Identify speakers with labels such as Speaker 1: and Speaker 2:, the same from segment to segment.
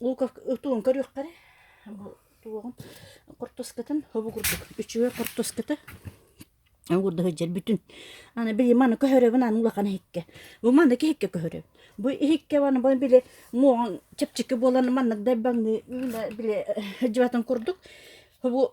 Speaker 1: луков туун көрүөххэрэ туоҕун кортоскатын хобу курдук үчүгэй кортоската уурда сылдьар бүтүн аны били маны көһөрөбүн аны улахан иһикке бу маны иһикке көһөрөбүн бу иһикке аны бу били муоҕун чэпчэки буолан маннык дайбаҥныы били сылдьыбатын курдук хобу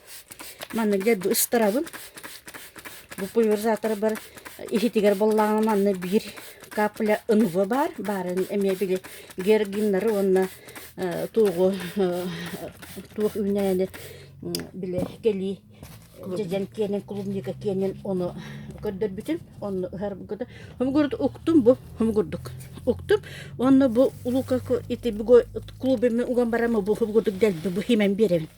Speaker 1: Манна дьэ ыстарабын. Бу пульверизаторбар иһитигэр буоллаҕына манна биир капля ынылы баар. Баарын эмиэ били георгиннары уонна туоҕу туох үүнээни били кэлии дьэдьэн киэнин клубника киэнин ону көрдөрбүтүм. Онно ыһарбыта. Хомугурдук уктум бу. Хомугурдук уктум. Онно бу лука ити клубе ми уган барама бу хомугурдук дэлби бу химэн биэрэбин.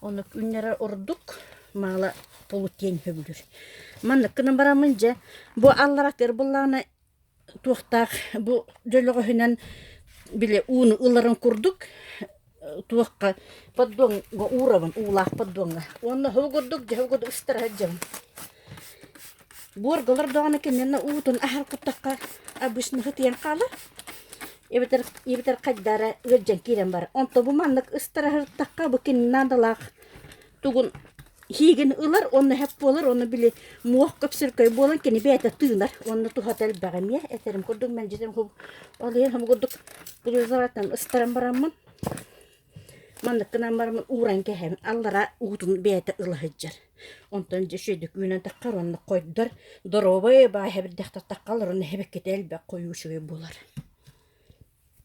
Speaker 1: Ону күннэрэр ордук маала полутиен хөбүлүр. Манныккынан барамын дьэ, бу алларатыр буллаана туохтаах бу дьөлөҕөһүнэн били ууну ыларын курдук туохха поддоҥҥа уурабын, уулаах поддоҥҥа. Уонна оһоҕу курдук дьэһэ курдук ыстара сылдьабын. Буоргалар даҕаны киниэнэ уутун аһар куттахха обычно һытыйан хаалар эбэтэр эбэтэр хайдара ыалдьан киирэн барар онто бу маннык ыстараһыртахха бу кини наадалаах тугун һиигин ылар уонна эһэп буолар уонна били муох көпсөркөй буолан кини бэйэтэ тыынар уонна туһата элбэх эмиэ этэрим курдук мэлдьитин ол иһин һомугурдук устаран бараммын Маннык гынан баран ууран кэһэн аллараа уутун бэйэтэ ыла сылдьар. Онтон дьэ үчүгэйдик үүнэн таххар уонна қойдор, доруобай баай эбэрдээхтэр таххалар уонна эбэккитэ элбэх хойуучугай булар